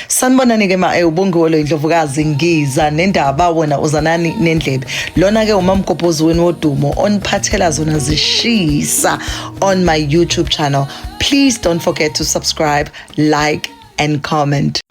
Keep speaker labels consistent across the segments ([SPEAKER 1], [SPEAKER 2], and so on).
[SPEAKER 1] sanibonani ke ma eh, ubongiwe lo indlovukazi ngiza nendaba wena uzanani nendlebe lona ke umamgobhozi wenu wodumo oniphathela zona zishisa on my youtube channel please don't forget to subscribe like and comment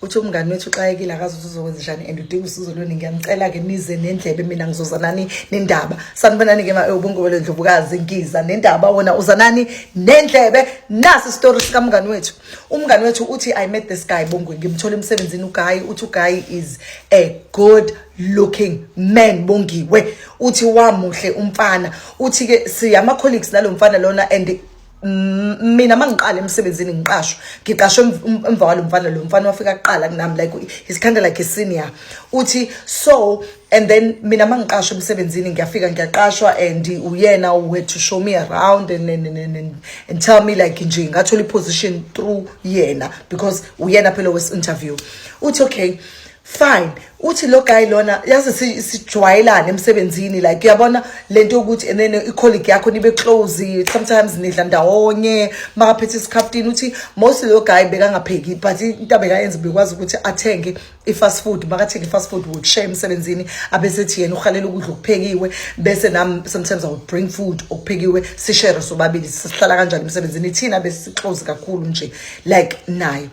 [SPEAKER 1] uthi umngani wethu uxakekile akazi ukuthi uzokwenza njani and udinga usizo lweni ngiyamcela-ke nize nendlebe mina ngizozanani nendaba sanibonani-ke ma ubungobelo ndlovukazi ngiza nendaba wona uzanani nendlebe nasi isitori sikamngani wethu umngane wethu uthi i met this guy bongwe ngimthola emsebenzini uguy uthi uguy is a good looking man bongiwe uthi wamuhle umfana uthi ke siyama colleagues nalo mfana lona and mina mangiqala emsebenzini ngiqashwa ngiqashwe emva walo mfana lo mfana wafika kuqala kunami like he's kind of like a senior uthi so and then mina mangiqashwa emsebenzini ngiyafika ngiyaqashwa and uyena who had to show me around and, and, and, and, and tell me like nje ngathola i-position through yena because uyena phela wesi-interview uthi okay fine uthi lo guy lona yazi sijwayelane emsebenzini like uyabona lento yokuthi and then i-colleague yakho nibe close sometimes nidla ndawonye makaphethe isikhaftini uthi most lo guy bekangapheki but into abekayenza bekwazi ukuthi athenge i-fast food makathenge i-fast food would share emsebenzini abesethi yena uhalela ukudla okuphekiwe bese nam sometimes i would bring food okuphekiwe sishere sobabili sihlala kanjani emsebenzini thina besixozi kakhulu nje like naye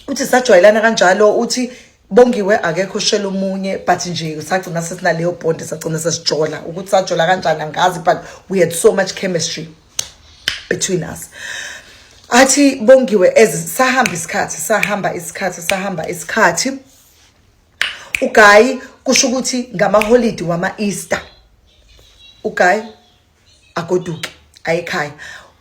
[SPEAKER 1] uthi sajwayelana kanjalo uthi bongiwe akekho shela omunye but nje sagcina sesinaleyo bond sagcina sesijola ukuthi sajola kanjani angazi but we had so much chemistry between us athi bongiwe ezi sahamba isikhathi sahamba isikhathi sahamba isikhathi ugayi kusho ukuthi ngamaholidi wama-easter ugayi agoduke ayekhaya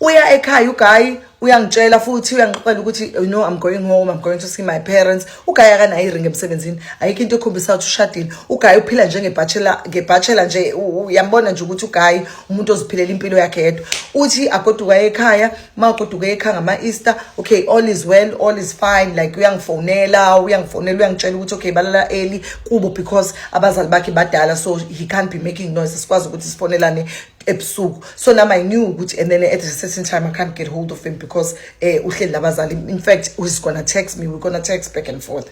[SPEAKER 1] uya ekhaya ugayi uyangitshela futhi uyangixoxela ukuthi you know i'm going home i'm going to see my parents ugayi akanayo iring emsebenzini ayikho into ekhombisa ukuthi ushadile ugayi uphila njengebachelor ngebachelor nje uyambona nje ukuthi ugayi umuntu oziphilela impilo yakhe yedwa uthi agoduka ekhaya uma ugoduka ekhaya ngama-easter okay all is well all is fine like uyangifonela uyangifonela uyangitshela ukuthi okay balala early kubo because abazali bakhe badala so he can't be making noise sikwazi ukuthi sifonelane ebusuku so nam i knew ukuthi and then at a certain time i can't get hold of him because eh uhleli labazali in fact he's gonna text me we're gonna text back and forth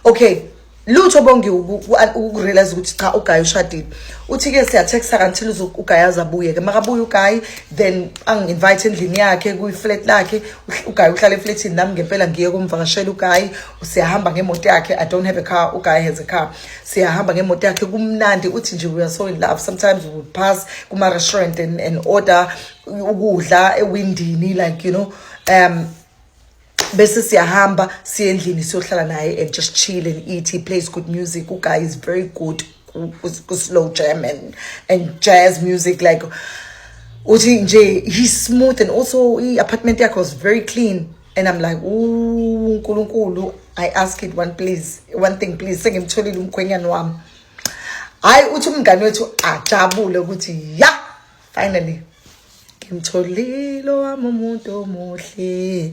[SPEAKER 1] okay lutho bongi ukurealize ukuthi cha ugayi ushadile uthi ke siyatexta kantil ugayi azabuye ke makabuye ugayi then angi-invite endlini yakhe kwi-flat lakhe ugayi uhlala efletini nami ngempela ngiye kumvakashela ugayi siyahamba ngemoto yakhe i don't have a car ugayi has a car siyahamba ngemoto yakhe kumnandi uthi nje we are so in love sometimes we would pass kuma-restaurant and, and order ukudla ewindini like you know um bese siyahamba siye endlini siyohlala naye and just chill and eat he plays good music uguy is very good ku-slow jam and, and jazz music like uthi nje he's smooth and also i-apartment yakhe was very clean and i'm like ooh unkulunkulu i ask it one please one thing please sengimtholile umkhwenyana wami hayi uthi umngane wethu ajabule ukuthi ya finally ngimtholile wami umuntu omuhle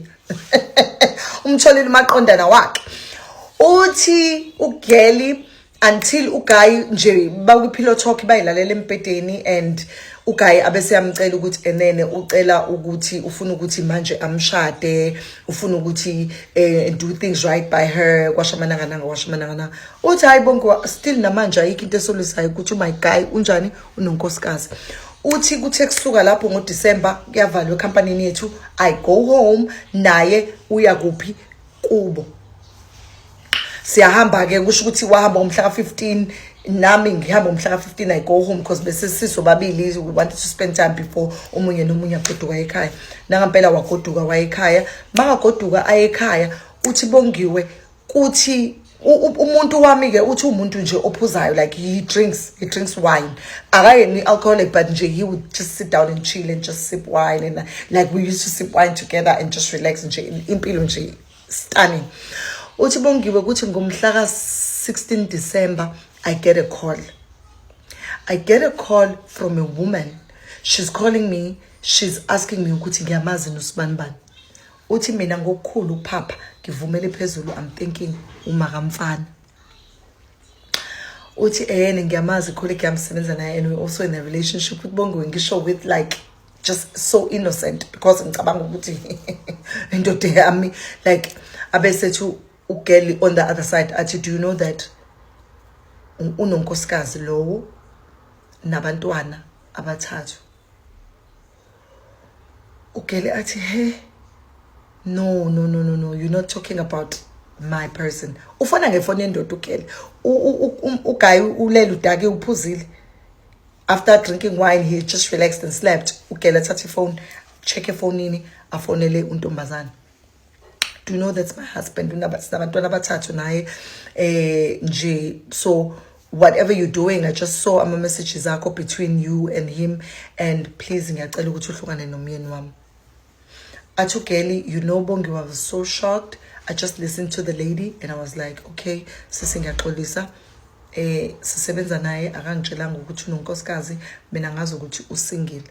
[SPEAKER 1] umtholile umaqondana wakhe uthi ugeli until uguy nje bakwi-pillow talk bayilalela empedeni and uguy abese yamcela ukuthi enene ucela ukuthi ufuna ukuthi manje amshade ufuna ukuthi eh, do things right by her kwashamanangananga kwashamanangana uthi hayi bonke still namanje ayikho into esolisayo ukuthi my guy unjani unonkosikazi uthi kuthe kusuka lapho ngodisemba kuyavalwa ekhampanini yethu i go home naye uya kuphi kubo siyahamba ke kusho ukuthi wahamba umhla ka 15 nami ngihamba umhla ka 15 i go home because bese siso babili we wanted to spend time before umunye nomunye agoduka ekhaya nangampela wagoduka wayekhaya makagoduka ayekhaya uthi bongiwe kuthi umuntu wami-ke uthi umuntu nje ophuzayo like he drinks he drinks wine akayeni i-alcoholic but nje he would just sit down and chill and just sip wine and like we used to sip wine together and just relax nje impilo nje stunning uthi bongiwe ukuthi ngomhla ka-16 december i get a call i get a call from a woman she's calling me she's asking me ukuthi ngiyamazi nosibani bani Uthi mina ngokukhulu ukuphapha ngivumele phezulu I'm thinking umakamfana. Uthi ehene ngiyamazi colleague yami sebenza naye and we also in a relationship with Bongiwe ngisho with like just so innocent because ngicabanga ukuthi indoda yami like abesethu ugirl on the other side athi do you know that unonkosikazi lowo nabantwana abathathu ugele athi he no no no no no you're not talking about my person ufona ngefoni yendoda ugele ugayi ulele udake uphuzile after drinking wine he just relaxed and slept ugele athatha ifoni check efonini afonele untombazane do you know that's my husband sinabantwana abathathu naye eh nje so whatever you're doing i just saw ama-messages akho between you and him and please ngiyacela ukuthi uhlukane nomyeni wami athi ugeli you know bongi was so shocked i just listened to the lady and i was like okay sisi ngiyaxolisa eh sisebenza naye akangitshelanga ukuthi unonkosikazi mina ngazi ukuthi usingile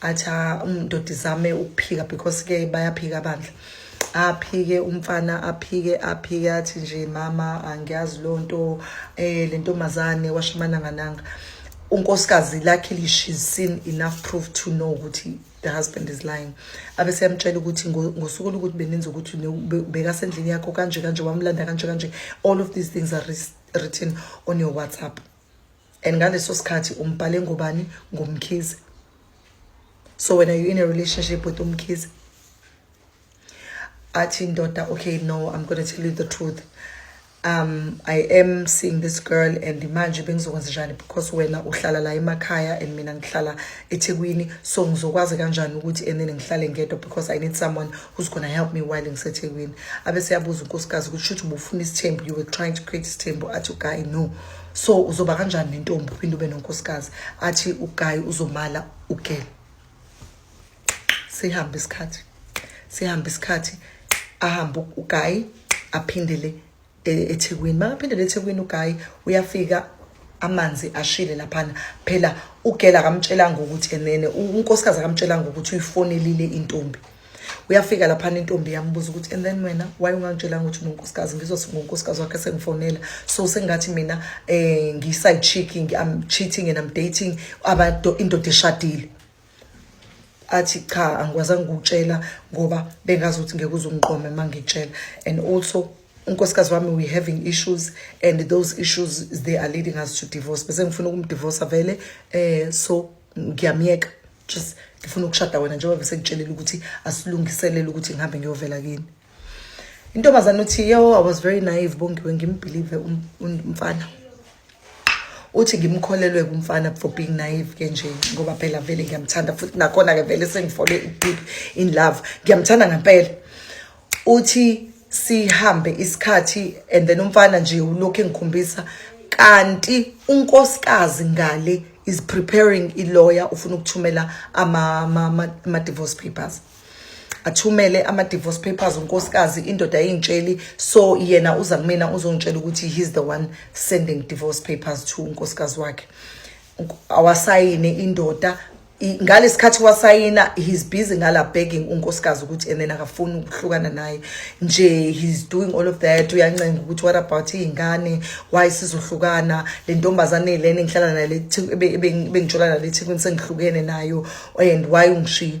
[SPEAKER 1] acha umdodi um, zame ukuphika because ke bayaphika bandla aphike umfana aphike aphike athi nje mama angiyazi lo nto eh le ntombazane washimana ngananga unkosikazi luckily she's seen enough proof to know ukuthi the husband is lying abe seyamtshela ukuthi ngosuku lokuthi beninzi ukuthi bekasendlini yakho kanje kanje wamlanda kanje kanje all of these things are written on your whatsapp and ngaleso sikhathi umbhale ngobani ngomkhize so when are you in a relationship with umkhize athi ndoda okay no i'm gonna tell you the truth um i am seeing this girl and manje bengizokwenza njani because wena uhlala la emakhaya and mina ngihlala ethekwini so ngizokwazi kanjani ukuthi and then ngihlale ngedwa because i need someone who's gonna help me while ngisethekwini abe seyabuza unkosikazi ukuthi shuthi ubufuna isithembu you were trying to create isithembu athi uguy no so uzoba kanjani nentombi uphinde ube nonkosikazi athi ugayi uzomala ugele sihambe isikhathi sihambe isikhathi ahambe ugayi aphindele e, ethekwini makaphindele ethekwini ugayi uyafika amanzi ashile laphana phela ugela akamtshelanga ukuthi enene unkosikazi akamtshelanga ukuthi uyifonelile intombi uyafika laphana intombi yambuza ukuthi and then wena why ungangitshelanga ukuthi unonkosikazi ngizothi ngonkosikazi wakhe sengifonela so sengathi mina um ngiyi-side checking i'm cheating and i'm dating indoda eshadile athi cha angikwazanga ukutshela ngoba bengazi ukuthi ngeke uzungiqome uma ngitshela and also unkosikazi wami we having issues and those issues they are leading us to divorce bese ngifuna ukumdivorsa vele um so ngiyamyeka just ngifuna ukushada wena njengoba sengitshelile ukuthi asilungiselele ukuthi ngihambe ngiyovela kini intombazane uthi yo i was very naive bongiwe ngimbhilive um, um, umfana uthi ngimkholelwe kumfana for being naive ke nje ngoba phela vele ngiyamthanda futhi nakhona-ke vele sengifole i-deep in love ngiyamthanda ngempela uthi sihambe isikhathi and then umfana nje ulokhu engikhombisa kanti unkosikazi ngale is preparing ilawyer ufuna ukuthumela ama-divorce papers athumele ama-divorce papers unkosikazi indoda yingitsheli so yena uza kumina uzongitshela ukuthi he's the one sending divorce papers to unkosikazi wakhe awasayine indoda ngalesikhathi wasayina he's busy ngala begging unkosikazi ukuthi and then akafuni ukuhlukana naye nje he's doing all of that uyancenga ukuthi what about iy'ngane why sizohlukana le ntombazane lena engihlala nayo ebengitshola nale ethekwini sengihlukene nayo and why ungishiye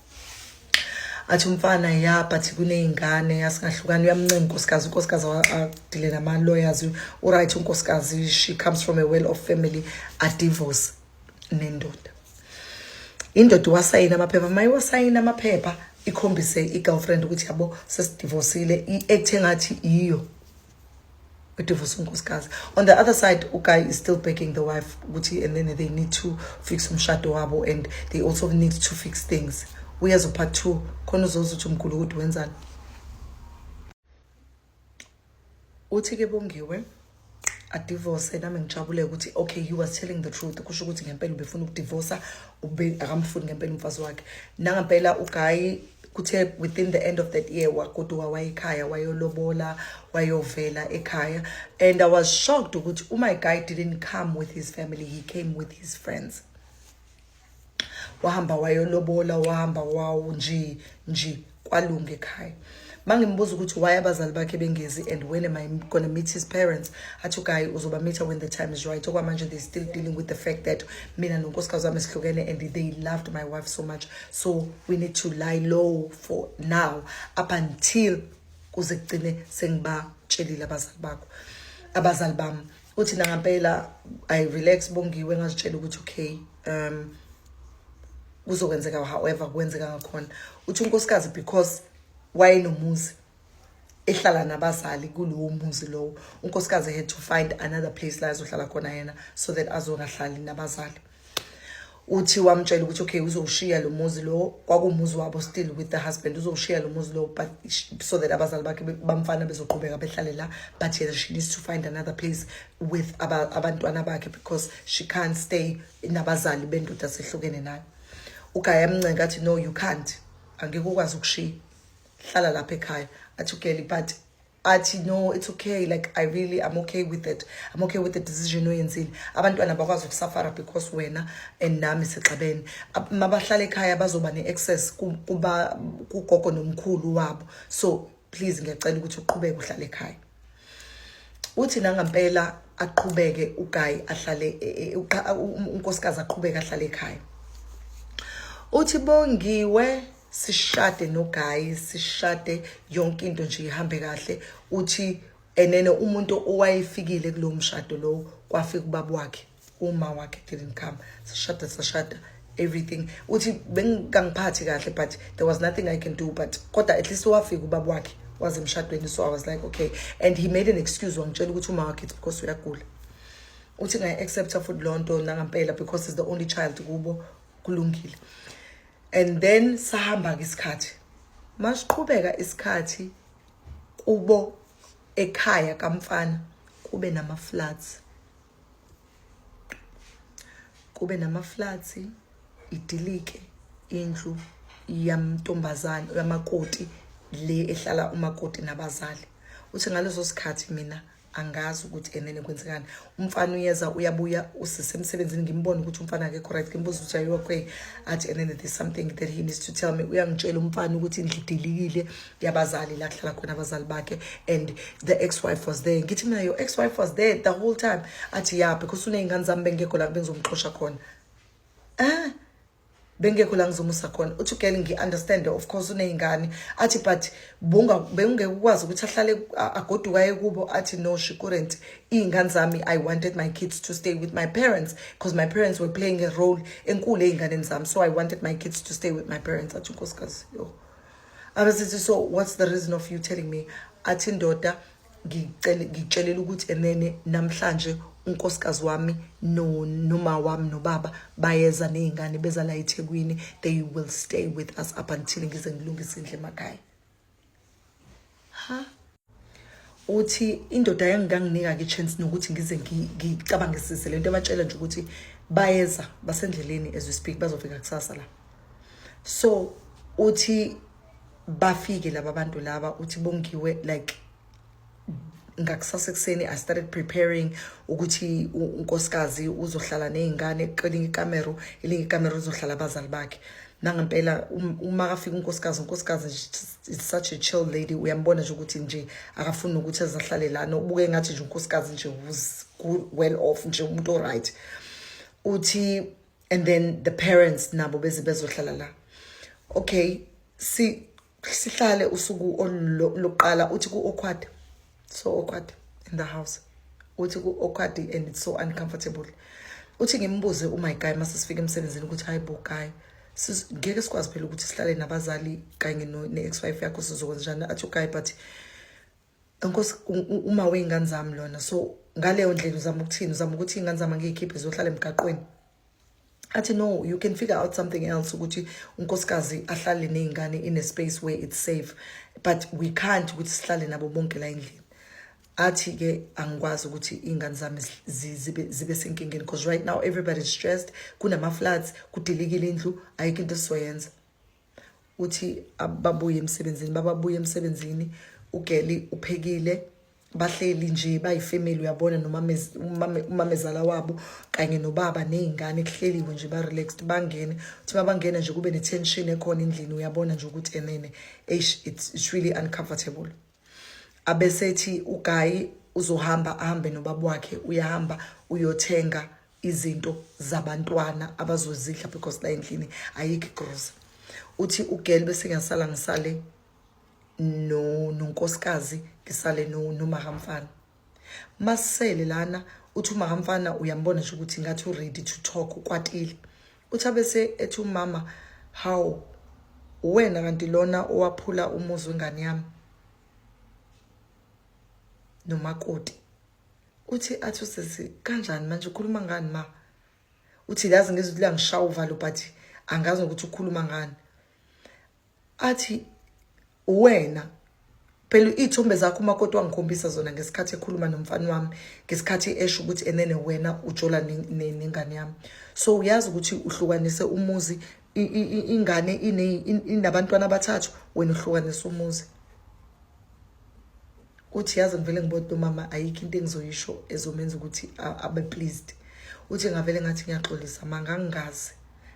[SPEAKER 1] athi umfana ya but kuney'ngane yasingahlukani uyamncima unkosikazi unkosikazi adile nama-lawyers uright unkosikazi she comes from a well of family adivorce nendoda indoda iwasayini amaphepha uma iwasayini amaphepha ikhombise i-girlfriend ukuthi yabo sesidivosile i-act engathi iyo udivorce unkosikazi on the other side uguy is still begging the wife ukuthi and then they need to fix umshado wabo and they also need to fix things uyazo part two khona uzoza ukuthi umkhulu ukuthi wenzani uthi ke bongiwe adivorce nami ngijabule ukuthi okay he was telling the truth kusho ukuthi ngempela ubefuna ukudivorsa ube akamfuni ngempela umfazi wakhe nangempela ugayi kuthe within the end of that year wagoduka wayekhaya wayolobola wayovela ekhaya and i was shocked ukuthi umy oh guy didn't come with his family he came with his friends wahamba wayolobola wahamba wawo nje nje kwalunga ekhaya mangimbuza ukuthi why abazali bakhe bengezi and when am i gonna meet his parents athi ugayi uzoba meet when the time is right okwamanje they still dealing with the fact that mina nonkosikazi wami sihlukene and they loved my wife so much so we need to lie low for now up until kuze kugcine sengibatshelile abazali bakho abazali bami uthi nangampela i relax bongiwe ngazitshela ukuthi okay um kuzokwenzeka however kwenzeka ngakhona uthi unkosikazi because wayenomuzi ehlala nabazali kulowo muzi lowo unkosikazi had to find another place la ezohlala khona yena so that azongahlali nabazali uthi wamtshela ukuthi okay uzowushiya lo muzi lo kwakumuzi wabo still with the husband uzowushiya lo muzi lo but so that abazali bakhe bamfana bezoqhubeka behlale la but yena she needs to find another place with abantwana bakhe because she can't stay nabazali bendoda sehlukene nayo ugaya amncenga athi no you can't angeke ukwazi ukushiya hlala lapha ekhaya athi ugeli but athi no it's okay like i really i'm okay with it i'm okay with the decision oyenzile abantwana bakwazi ukusafara because wena and nami sixabene mabahlala ekhaya bazoba ne-access kuba kugogo nomkhulu wabo so please ngiyacela ukuthi uqhubeke uhlale ekhaya uthi nangampela aqhubeke ugayi ahlale e, e, unkosikazi aqhubeke ahlale ekhaya uthi bongiwe sishade no guy sishade yonke into nje ihambe kahle uthi enene umuntu owayefikile kulomshado lo kwafika ubaba wakhe uma wakhe didn't come sishada sashada everything uthi bengangiphathi kahle but there was nothing i can do but kodwa at least wafika ubaba wakhe waze emshadweni so i was like okay and he made an excuse wangitshela ukuthi uma wakhe it's because uyagula uthi ngayi-accepta futhi loo nto nangampela because is the only child kubo kulungile and then sahamba-ke isikhathi masiqhubeka isikhathi kubo ekhaya kamfana kube nama-floods kube nama-floods idilike indlu yamntombazane yamakoti le ehlala umakoti nabazali uthi ngaleso sikhathi mina angazi ukuthi enene kwenzekani umfana uyeza uyabuya usise emsebenzini ngimbone ukuthi umfana akekho right ngimbuza ukuthi are you okay athi enene there's something that he needs to tell me uyangitshela umfana ukuthi indlu idilikile yabazali la kuhlala khona abazali bakhe and the ex wife was there ngithi mina your ex wife was there the whole time athi yeah because uney'ngane zami bengekho la bengizomxosha khona eh bengekho la ngizomusa khona uthi ugirl ngi-understande of course uney'ngane athi but bengingeke ukwazi ukuthi ahlale agoduka ekubo athi no she couldn't iy'ngane zami i wanted my kids to stay with my parents because my parents were playing a role enkulu ey'nganeni zami so i wanted my kids to stay with my parents athi unkosikazi yo abesithi so what's the reason of you telling me athi ndoda ngicele ngitshelela ukuthi enene namhlanje unkosikazi wami no noma wami nobaba bayeza nezingane beza la eThekwini they will stay with us up until ngize ngilungise indle emakhaya ha uthi indoda yanginganginika ke chance nokuthi ngize ngicabanga isise lento ebatshela nje ukuthi bayeza basendleleni as we speak bazofika kusasa la so uthi bafike laba bantu laba uthi bongiwe like ngakusasa ekuseni i started preparing ukuthi unkosikazi uzohlala nezingane kwelinye ikamero elinye ikamero uzohlala abazali bakhe nangempela um, uma kafika unkosikazi unkosikazi is such a chill lady uyambona nje ukuthi nje akafuni ukuthi azahlale lana ubuke ngathi nje unkosikazi nje was well off nje umuntu oright uthi and then the parents nabo beze bezohlala la okay si sihlale usuku oluqala uthi ku awkward so awkward in the house uthi ku awkward and it's so uncomfortable uthi ngimbuze u my guy mase sifike emsebenzini ukuthi hayi bo guy ngeke sikwazi phela ukuthi sihlale nabazali kanye ne ex wife yakho sizokwenza njani athi guy but Nkosi uma wey'ngane zami lona so ngaleyo ndlela uzama ukuthini uzama ukuthi iy'ngane zami angiyikhiphe ziyohlala emgaqweni athi no you can figure out something else ukuthi unkosikazi ahlale ney'ngane in a space where it's safe but we can't ukuthi sihlale nabo bonke la endlini athi-ke angikwazi ukuthi iy'ngane zami zibe senkingeni because right now everybody is stressed kunama-floods kudilikile indlu ayikho into esizoyenza uthi ababuye emsebenzini bababuye emsebenzini ugeli uphekile bahleli nje bayifamily uyabona nomamezala wabo kanye nobaba nezingane kuhleliwe nje ba relaxed bangene uthi babangena nje kube ne tension ekhona endlini uyabona nje ukuthi enene eish it's, it's really uncomfortable abesethi ugayi uzohamba ahambe nobaba wakhe uyahamba uyothenga izinto zabantwana abazozidla because la endlini ayikho igrosa uthi ugirl bese ngasala ngisale no nonkosikazi ngisale no nomahamfana masele lana uthi uma kamfana uyambona nje ukuthi ngathi uready to talk ukwatile uthi abese ethi umama how uwena kanti lona owaphula umuzi wengane yami nomakoti uthi athi usisi kanjani manje ukhuluma ngani ma uthi lazi ngizwe ukuthi langishaya uvalo but angazi ukuthi ukhuluma ngani athi wena phela iy'thombe zakho umakoti wangikhombisa zona ngesikhathi ekhuluma nomfana wami ngesikhathi esho ukuthi enene wena ujola nengane yami so uyazi ukuthi uhlukanise umuzi ingane inabantwana abathathu wena uhlukanise umuzi uthi yazi ngivele ngibone nomama ayikho into engizoyisho ezomenza ukuthi abe pleased uthi ngavele ngathi ngiyaxolisa ma ngangingazi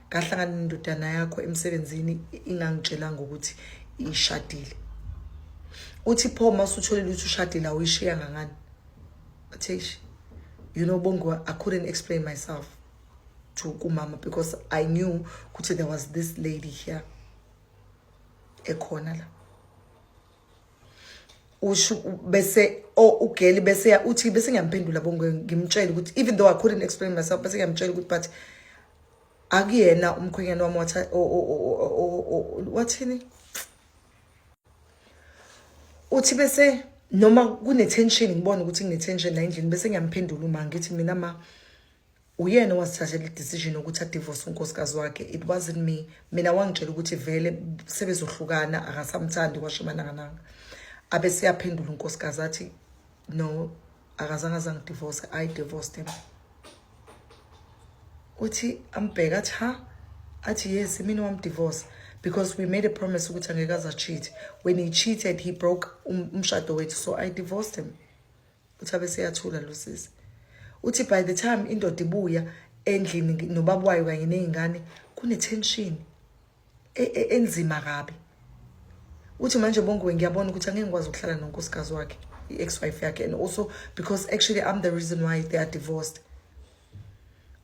[SPEAKER 1] ngahlangana nendodana yakho emsebenzini ingangitshelanga ukuthi ishadile uthi pho uma usutholile ukuthi ushadile awuyishiya ngangani athish you know bongo i couldn't explain myself to kumama because i knew ukuthi there was this lady here ekhona la usho bese o oh, ugeli bese uthi bese ngiyamphendula bonke ngimtshela ukuthi even though I couldn't explain myself bese ngiyamtshela ukuthi but akuyena umkhwenyana wami watha wathini uthi bese noma kune tension ngibona ukuthi ngine tension la endlini bese ngiyamphendula uma ngithi mina ma uyena owazithathela i-decision yokuthi adivorce unkosikazi wakhe it wasn't me mina wangitshela ukuthi vele sebezohlukana akasamthandi kwasho imanangananga abe seyaphendula unkosikazi athi no akazange azangidivorce i divorced him uthi ambheka athi ha athi yes mina wamdivorce because we made a promise ukuthi angeke aza cheat when he cheated he broke um, umshado wethu so i divorced him uthi abeseyathula lo sisi uthi by the time indoda ibuya endlini nobaba wayo kanye nezingane kunetension e, e, enzima kabi uthi manje bongiwe ngiyabona ukuthi angeke ngikwazi ukuhlala nonkosikazi wakhe i-ex wife yakhe and also because actually i'm the reason why they are divorced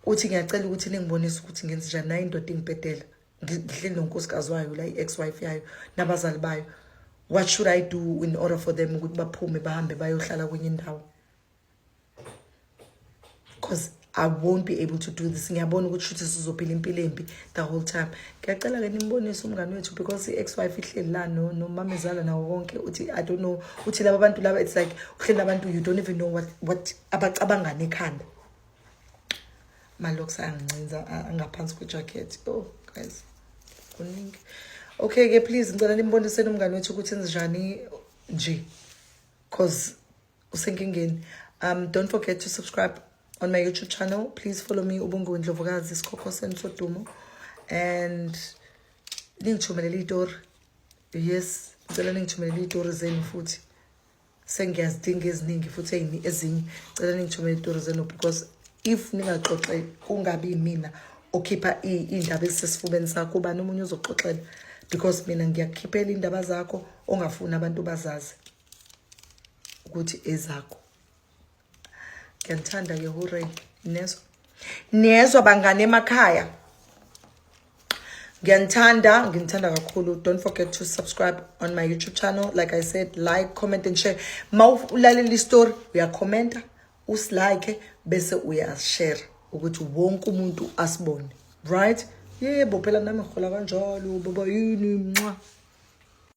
[SPEAKER 1] uthi ngiyacela ukuthi ningibonise ukuthi ngenze njani nayo indoda ingibhedela ngihleli nonkosikazi wayo la i-ex wife yayo nabazali bayo what should i do in order for them ukuthi baphume bahambe bayohlala kwenye indawo because i won't be able to do this ngiyabona ukuthi shuthi sizophila impilo embi the whole time ngiyacela ke nimbonise umngane wethu because i-ex wife ihleli la no nomamezala nawo konke uthi i don't know uthi laba bantu laba it's like uhleli nabantu you don't even know what what abacabangane ekhanda malokhu angincinza angaphansi kwejacket oh guys kuningi okay ke please ngicela nimboniseni umngane wethu ukuthi njani nje cause usenkingeni um don't forget to subscribe on my youtube channel please follow me ubunguwe ndlovukazi isikhokho senu sodumo and ningithumelele itori yes ngicela ningithumelele itori zenu futhi sengiyazidinga eziningi futhi eyini ezinye cela ningithumele itori zenu because if ningaxoxe kungabi yimina okhipha iy'ndaba ezisesifubeni sakho ubani omunye ozoxoxela because mina ngiyakukhiphela iy'ndaba zakho ongafuni abantu bazazi ukuthi ezakho ngiyanithanda ke hurray nezwa nezwa bangane emakhaya ngiyanithanda nginithanda kakhulu don't forget to subscribe on my youtube channel like i said like comment and share ma ulalela istory uyakhomenta usilike bese uyashare ukuthi wonke umuntu asibone right yebo phela nami ngihola kanjalo baba yini nxa